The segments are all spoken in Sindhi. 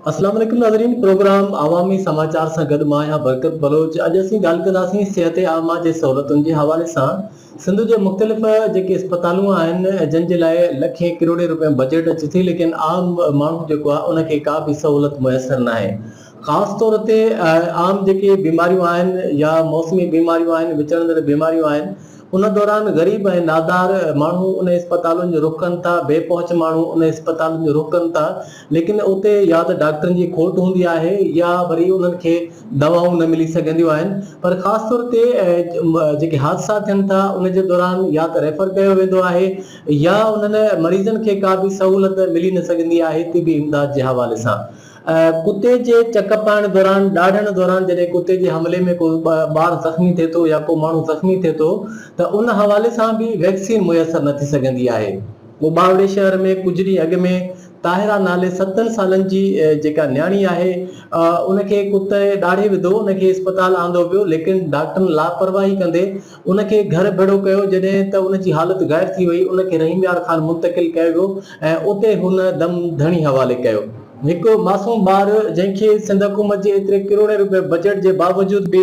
السلام عليڪم ناظرين پروگرام عوامي سماچار سان گڏ مان آهيان برڪت بلوچ اڄ اسين ڳالهه ڪنداسين صحت عامه جي سهولتن جي حوالي سان سنڌ جي مختلف جيڪي اسپتالون آهن جن جي لاء لکين ڪروڙين رپين بجيٽ اچي ٿي ليڪن عام ماڻهو جيڪو آهي ان کي ڪا به سهولت ميسر ناهي خاص طور تي عام جيڪي بيماريون آهن يا موسمي بيماريون آهن وچڙندڙ بيماريون آهن ان دوران غريب ۽ نادار ماڻهو انهن اسپتالن جو رخ ڪن ٿا، بي پهچ ماڻهو انهن اسپتالن جو رخ ڪن ٿا، ليڪن اتي يا ته ڊاڪٽرن جي کوٽ هوندي آهي يا وري انهن کي دوائون نه ملي سگهنديون آهن پر خاص طور تي جيڪي حادثا ٿين ٿا ان جي دوران يا ته ريفر ڪيو ويندو آهي يا انهن مريضن کي ڪا به سهولت ملي نه سگهندي آهي طبي امداد جي حوالي سان. ڪتي جي چڪ پائڻ دوران ڏاڙهڻ دوران جڏهن ڪتي جي حملي ۾ ڪو ٻار زخمي ٿئي ٿو يا ڪو ماڻهو زخمي ٿئي ٿو ته ان حوالي سان به ويڪسين ميسر نه ٿي سگهندي آهي ٻاوڙي شهر ۾ ڪجهه ڏينهن اڳ ۾ طاهرا نالي ستن سالن جي جيڪا نياڻي آهي ان کي ڪتي ڏاڙهي وڌو ان کي اسپتال آندو ويو ليڪن ڊاڪٽرن لاپرواهي ڪندي ان کي گهر ڀيڙو ڪيو، جڏهن ته ان جي حالت غائب ٿي وئي، ان کي رحيم يار خان منتقل ڪيو ويو ۽ اتي هن دم ڌڻي حوالي ڪيو. هڪ معصوم ٻار جنهن کي سنڌ حڪومت جي ايتري ڪروڙين روپيه بجيٽ جي باوجود به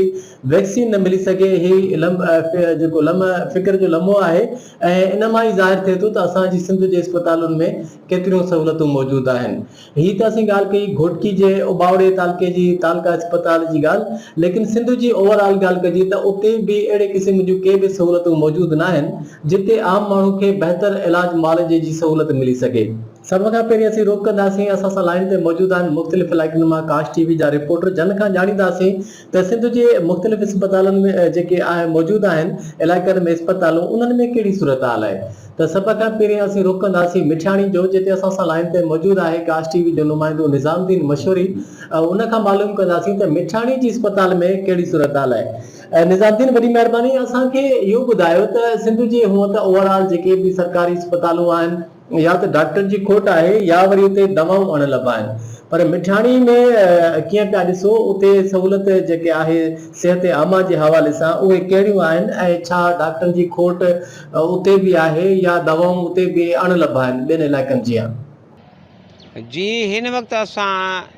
ويڪسين نه ملي سگهي هي جيڪو لمحه فڪر جو لمحو آهي ۽ ان مان ئي ظاهر ٿئي ٿو ته اسان جي سنڌ جي اسپتالن ۾ ڪيتريون سهولتون موجود آهن. هي ته اسين ڳالهه ڪئي گهوٽڪي جي اٻاوڙي تعلقي جي تعلقه اسپتال جي ڳالهه ليڪن سنڌ جي اوور آل ڳالهه ڪجي ته اتي به اهڙي قسم جون ڪي به سهولتون موجود ناهن جتي عام ماڻهو کي بهتر علاج معالجي جي سهولت ملي سگهي. سڀ کان پهرين اسين روڪنداسين اسان سان لائين تي موجود آهن مختلف علائقن مان ڪاش ٽي وي جا رپورٽر جن کان ڄاڻينداسين ته سنڌ جي مختلف اسپتالن ۾ جيڪي موجود آهن علائقن ۾ اسپتالون انهن ۾ ڪهڙي صورتحال آهي ته سڀ کان پهرين اسين رخ ڪنداسين مٺياڻي جو جتي اسان سان لائين تي موجود آهي ڪاسٽ ٽي وي جو نمائندو نظام الدين مشوري ان کان معلوم ڪنداسين ته مٺياڻي جي اسپتال ۾ ڪهڙي صورتحال آهي نظام الدين وڏي مهرباني اسان کي اهو ٻڌايو ته سنڌ جي هونء ته اوور آل جيڪي به سرڪاري اسپتالون آهن يا ته ڊاڪٽر جي کوٽ آهي يا وري اتي دوائون اڻ لڀ آهن پر مٺاڻي ۾ ڪيئن پيا ڏسو اتي سهولت جيڪي آهي صحت عامه جي حوالي سان اهي ڪهڙيون آهن ۽ ڇا ڊاڪٽر جي کوٽ اتي به آهي يا دوائون اتي به اڻ لڀ آهن ٻين علائقن جيان. جي هن وقت اسان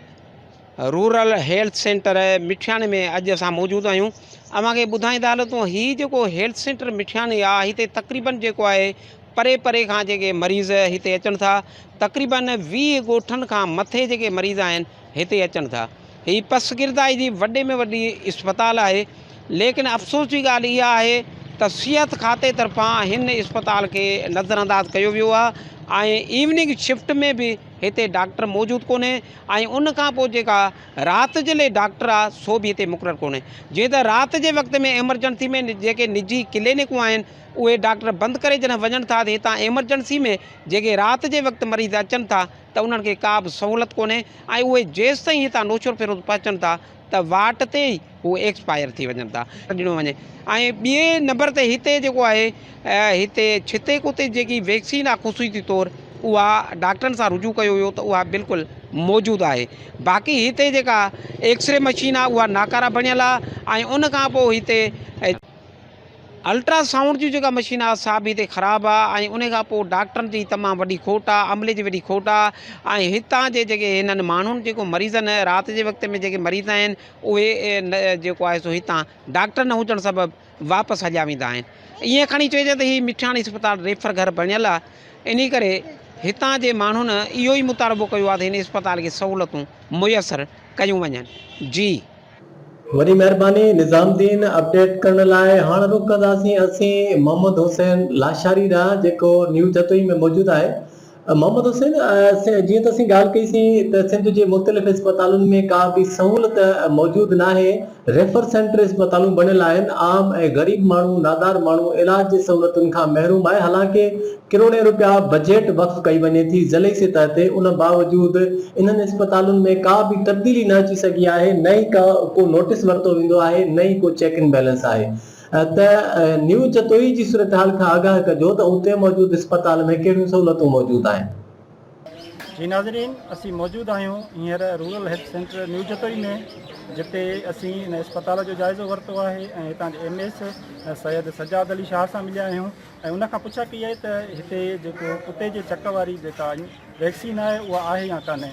رورل هيلٿ سينٽر مٺياڻي ۾ اڄ اسان موجود آهيون اوهان کي ٻڌائيندا هلون ته هي جيڪو هيلٿ سينٽر مٺياڻي آهي هتي تقريبن جيڪو آهي پري پري کان جيڪي مريض هتي اچن ٿا تقريبن ويهه ڳوٺن کان مٿي جيڪي مريض آهن هتي اچن ٿا هي پسگردائي جي وڏي ۾ وڏي اسپتال آهي ليڪن افسوس جي ڳالهه اها آهي ته صحت کاتي طرفان هن اسپتال کي نظر انداز ڪيو ويو آهي ۽ ايوننگ شفٽ ۾ به هتي ڊاڪٽر موجود ڪونهي ۽ ان کان پوء جيڪا رات جي لئي ڊاڪٽر آهي سو به هتي مقرر ڪونهي جيئن ته رات جي وقت ۾ ايمرجنسي ۾ جيڪي نجي ڪلينڪون آهن اهي ڊاڪٽر بند ڪري جڏهن وڃن ٿا ته هتان ايمرجنسي ۾ جيڪي رات جي وقت مريض اچن ٿا ته انهن کي ڪا به سهولت ڪونهي ۽ اهي جيستائين هتان نوشهرو فيروز پهچن ٿا ته واٽ تي ئي هو ايڪسپائر ٿي وڃن ٿا. ڏنو وڃي ۽ ٻئي نمبر تي هتي جيڪو آهي هتي ڇتي ڪتي جيڪي ويڪسين آهي خصوصي طور اها ڊاڪٽرن سان رجوع ڪيو ويو ته اها بلڪل موجود آهي باقي هتي جيڪا ايڪسري مشين آهي اها ناڪاره بڻيل آهي ۽ ان کان پوء هتي الٽرا سائونڊ جون جيڪا مشين آ سا به هتي خراب آ ۽ ان کان پوء ڊاڪٽرن جي تمام وڏي کوٽ آ عملي جي وڏي کوٽ آ ۽ هتان جي جيڪي هنن ماڻهن جيڪو مريضن رات جي وقت ۾ جيڪي مريض آهن اهي جيڪو آهي سو هتان ڊاڪٽر نه هجڻ سبب واپس هليا ويندا آهن ائين کڻي چئجي ته هي مٺياڻي اسپتال ريفر گهر بڻيل آ انهي ڪري هتان جي ماڻهن اهو ئي مطالبو ڪيو آ ته هن اسپتال کي سهولتون ميسر ڪيون وڃن جي وڏي مهرباني نظام الدين اپڊيٽ ڪرڻ لاء هاڻ رخ ڪنداسين اسين محمد حسين لاشاري ڏانهن جيڪو نيو جتوئي ۾ موجود آهي محمد حسين جيئن ته اسين ڳالهه ڪئي سين ته سنڌ جي مختلف اسپتالن ۾ ڪا به سهولت موجود ناهي ريفر سينٽر اسپتالون بڻيل آهن عام ۽ غريب ماڻهو نادار ماڻهو علاج جي سهولتن کان محروم آهي حالانڪه ڪروڙين رپيا بجيٽ وقف ڪئي وڃي ٿي ضلعي سطح تي ان باوجود انهن اسپتالن ۾ ڪا به تبديلي نه اچي سگهي آهي نه ئي ڪا ڪو نوٽس ورتو ويندو آهي نه ئي ڪو چيڪ ان بيلنس آهي ته نيو جتوئي جي صورتحال کان آگاهه ڪجو ته اتي موجود اسپتال ۾ ڪهڙيون سهولتون موجود آهن. جي ناظرين اسين موجود آهيون هينئر rural health centre new Jatoi ۾ جتي اسين ان اسپتال جو جائزو ورتو آهي ۽ هتان جي ايم ايس سيد سجاد علي شاهه سان مليا آهيون ۽ ان کان پڇا ڪئي آهي ته هتي جيڪو ڪتي جي چڪ واري جيڪا ويڪسين آهي اها آهي يا ڪانهي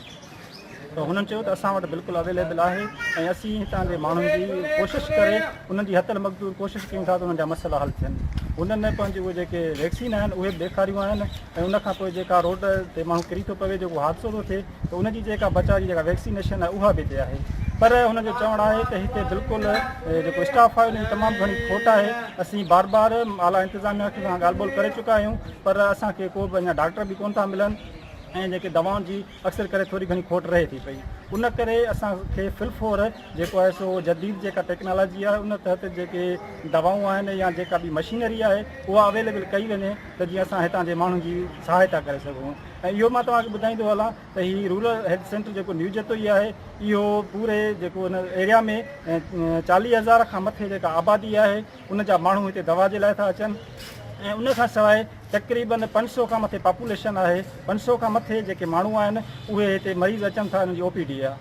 ته هنن چيو ته اسان وٽ بلڪل اويليبل آهي ۽ اسين هتان جي ماڻهن جي ڪوشش ڪري انهن جي هٿل مقدور ڪوشش ڪيون ٿا ته انهن جا مسئلا حل ٿين هنن پنهنجي اهي جيڪي ويڪسين آهن اهي به ڏيکاريون آهن ۽ ان کان پوء جيڪا روڊ تي ماڻهو ڪري ٿو پوي جيڪو حادثو ٿو ٿئي ته ان جي جيڪا بچاء جي جيڪا ويڪسينيشن آهي اها به هتي آهي پر هن جو چوڻ آهي ته هتي بلڪل جيڪو اسٽاف آهي ان جي تمام گهڻي کوٽ آهي اسين بار بار اعليٰ انتظاميا کي ڳالهه ٻولهه ڪري چڪا آهيون پر اسان کي ڪو به اڃا ڊاڪٽر به ڪون ٿا ملن ۽ جيڪي دوائن جي اڪثر ڪري ٿوري گهڻي کوٽ رهي ٿي پئي ان ڪري اسان کي فلفور جيڪو آهي سو جديد جيڪا ٽيڪنالاجي آهي ان تحت جيڪي دوائون آهن يا جيڪا به مشينري آهي اها اويليبل ڪئي وڃي ته جيئن اسان هتان جي ماڻهن جي سهائتا ڪري سگهون ۽ اهو مان توهان کي ٻڌائيندو هلان ته هي رورل هيلٿ سينٽر جيڪو نيو جتوئي آهي اهو پوري جيڪو ان ايريا ۾ چاليهه هزار کان مٿي جيڪا آبادي آهي ان جا ماڻهو هتي دوا جي لاء ٿا اچن ۽ ان کان سواء تقريبن پنج سؤ کان مٿي پاپوليشن آهي پنج سؤ کان مٿي جيڪي ماڻهو آهن اهي هتي مريض اچن ٿا انهن جي او پي ڊي جا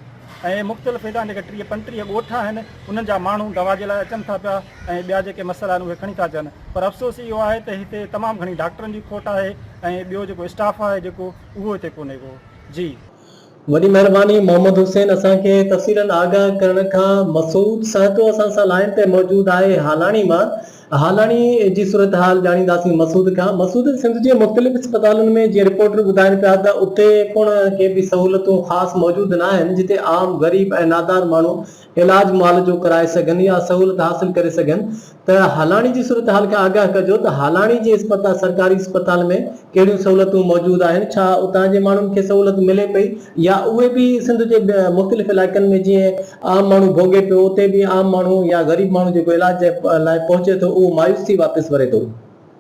۽ مختلف هتان جيڪا ٽيهه پنجٽيهه ڳوٺ آهن انهن جا ماڻهو دوا جي لاء اچن ٿا پيا ۽ ٻيا جيڪي مسئلا آهن اهي کڻي ٿا اچن پر افسوس اهو آهي ته هتي تمام گهڻي ڊاڪٽرن جي کوٽ آهي ۽ ٻيو جيڪو اسٽاف آهي جيڪو اهو هتي ڪونهي ڪو جي. وڏي مهرباني محمد حسين اسان کي تفصيلن آگاهه ڪرڻ کان. مسعود سهتو اسان سان لائين تي موجود آهي هالاڻي مان هالاڻي جي صورتحال ڄاڻينداسين مسعود کان مسعود سنڌ جي مختلف اسپتالن ۾ جيئن رپورٽر ٻڌائين پيا ته اتي پڻ ڪي به سهولتون خاص موجود ناهن جتي عام غريب ۽ نادار ماڻهو علاج مال جو ڪرائي سگهن يا سهولت حاصل ڪري سگهن ته هالاڻي جي صورتحال کان آگاهه ڪجو ته هالاڻي جي اسپتال سرڪاري اسپتال ۾ ڪهڙيون سهولتون موجود آهن ڇا اتان جي ماڻهن کي سهولت ملي پئي يا اهي به سنڌ جي مختلف علائقن ۾ جئين عام ماڻهو ڀوڳي پيو اتي به عام ماڻهو يا غريب ماڻهو جيڪو علاج لاء پهچي ٿو اهو مايوس ٿي واپس وري ٿو.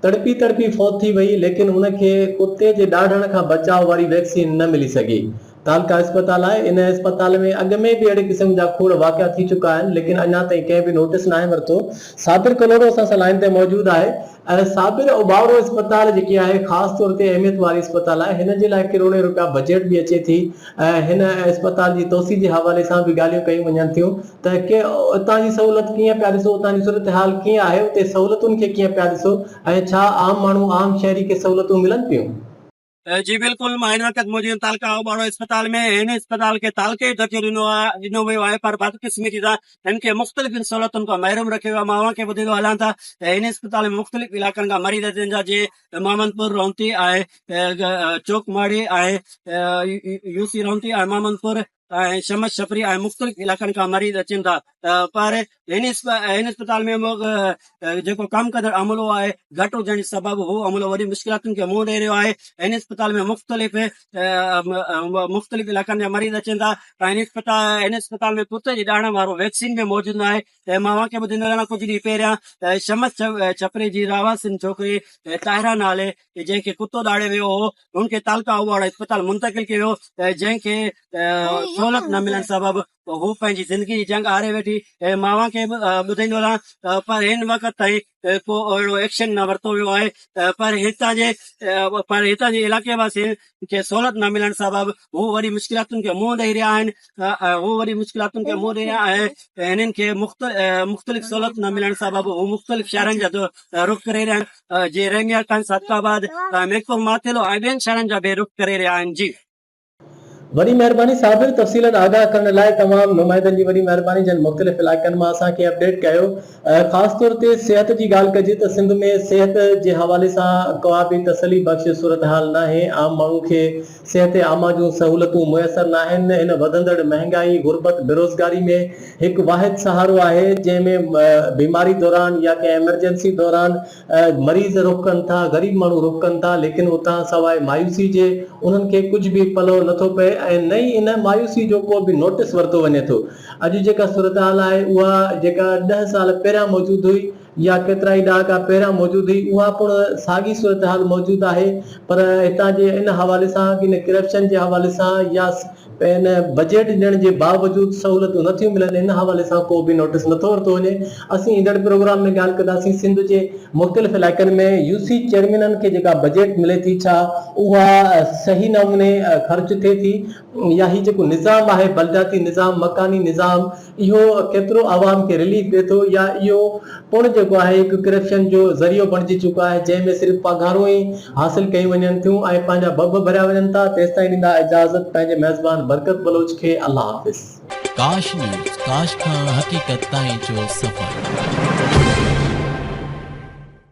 تڙپي تڙپي فوت ٿي وئي ليڪن ان کي ڪتي جي ڏاڙهڻ کان بچاء واري ويڪسين نه ملي سگهي. تعلقه اسپتال آهي ان اسپتال ۾ اڳ ۾ به اهڙي قسم جا کوڙ واقعا ٿي چڪا آهن ليڪن اڃا تائين ڪنهن به نوٽس ناهي ورتو. صابر ڪلهوڙو اسان سان لائين تي موجود آهي. صابر اوٻاوڙو اسپتال جيڪي آهي خاص طور تي اهميت واري اسپتال آهي هن جي لاء ڪروڙين روپيا بجيٽ به اچي ٿي ۽ هن اسپتال جي توسيع جي حوالي سان به ڳالهيون ڪيون وڃن ٿيون. ته ڪنهن اتان جي سهولت ڪيئن پيا ڏسو اتان جي صورتحال ڪيئن آهي اتي سهولتن کي ڪيئن پيا ڏسو ۽ ڇا عام ماڻهو عام شهري کي سهولتون ملن پيون. جي بلڪل مان هن وقت موجود تعلقه اوٻاڙو اسپتال ۾ هن اسپتال کي تعلقي جو درجو ڏنو ويو آهي پر بدقسمتي سان هن کي مختلفن سهولتن کان محروم رکيو ويو آهي مان اوهان کي ٻڌيندو هلان ته هن اسپتال ۾ مختلف علائقن کان مريض اچن ٿا جي محمد پور رونتي ۽ چوڪ ماڙي ۽ يوسي رونتي ۽ محمد پور ۽ شمس شپري ۽ مختلف علائقن کان مريض اچن ٿا پر هن اسپتال ۾ جيڪو ڪم ڪندڙ عملو آهي گهٽ هجڻ جي سبب هو عملو وڏين مشڪلاتن کي منهن ڏئي رهيو آهي هن اسپتال ۾ مختلف مختلف علائقن جا مريض اچن ٿا ۽ هن اسپتال ۾ ڪتي جي ڏاڙهن وارو ويڪسين به موجود ناهي ته مان اوهان کي ٻڌندو رهندو آهيان. ڪجهه ڏينهن پهريان شمس ڇپري جي رهواسين ڇوڪري طاهره نالي جنهن کي ڪتو ڏاڙهي ويو هو، هن کي تعلقه آئوڙ اسپتال منتقل ڪيو ويو جنهن کي سهولت نه ملڻ سبب هوء پنهنجي زندگي جي جنگ هاري ويٺي. مان اوهان کي ٻڌندو رهان پر هن وقت تائين ۾ ڪو اهڙو ايڪشن نه ورتو ويو آهي پر هتان جي پر هتان جي علائقي واسين کي سهولت نه ملڻ سبب هو وڏي مشڪلاتن کي منهن ڏئي رهيا آهن هو وڏي مشڪلاتن کي منهن ڏئي رهيا آهي هنن کي مختلف سهولت نه ملڻ سبب هو مختلف شهرن جا رخ ڪري رهيا آهن جي رحميا خان صادق آباد ميرپور ماٿيلو ۽ ٻين شهرن جا به رخ ڪري رهيا آهن جي وڏي مهرباني صابر تفصيلن آگاهه ڪرڻ لاء تمام نمائندن جي وڏي مهرباني جن مختلف علائقن مان اسان کي اپڊيٽ ڪيو خاص طور تي صحت جي ڳالهه ڪجي ته سنڌ ۾ صحت جي حوالي سان ڪابه تسلي بخش صورتحال ناهي عام ماڻهو کي صحت عامه جون سهولتون ميسر ناهن هن وڌندڙ مهنگائي غربت بيروزگاري ۾ هڪ واحد سهارو آهي جنهن ۾ بيماري دوران يا ڪنهن ايمرجنسي دوران مريض رخ ڪن ٿا، غريب ماڻهو رخ ڪن ٿا، ليڪن اتان سواء مايوسي جي انهن کي ڪجهه به پلئو نه ٿو پئي ۽ نه ئي ان مايوسي جو ڪو به نوٽس ورتو وڃي ٿو. اڄ جيڪا صورتحال آهي اها جيڪا ڏهه سال پهريان موجود هئي يا ڪيترائي ڏهاڪا پهريان موجود هئي اها پڻ ساڳي صورتحال موجود آهي پر هتان جي ان حوالي سان ڪنهن ڪرپشن جي حوالي سان يا پڻ بجيٽ ڏيڻ جي باوجود سهولتون نه ٿيون ملن، ان حوالي سان ڪو به نوٽيس نه ٿو ورتو وڃي. اسين ايندڙ پروگرام ۾ ڳالهه ڪنداسين سنڌ جي مختلف علائقن ۾ يو سي چيئرمينن کي جيڪا بجيٽ ملي ٿي ڇا اها صحيح نموني خرچ ٿئي ٿي يا هي جيڪو نظام آهي بلدياتي نظام، مڪاني نظام، اهو ڪيترو عوام کي رليف ڏي ٿو يا اهو پڻ جيڪو آهي هڪ ڪرپشن جو ذريعو بڻجي چڪو آهي جنهن ۾ صرف پگهارون ئي حاصل ڪيون وڃن ٿيون ۽ پنهنجا ڀڀ ڀريا وڃن ٿا تيستائين ڏيندا اجازت پنهنجي ميزبان برڪت بلوچ کي الله حافظ. ڪاش نيوز ڪاش کان حقيقت تائين جو سفر.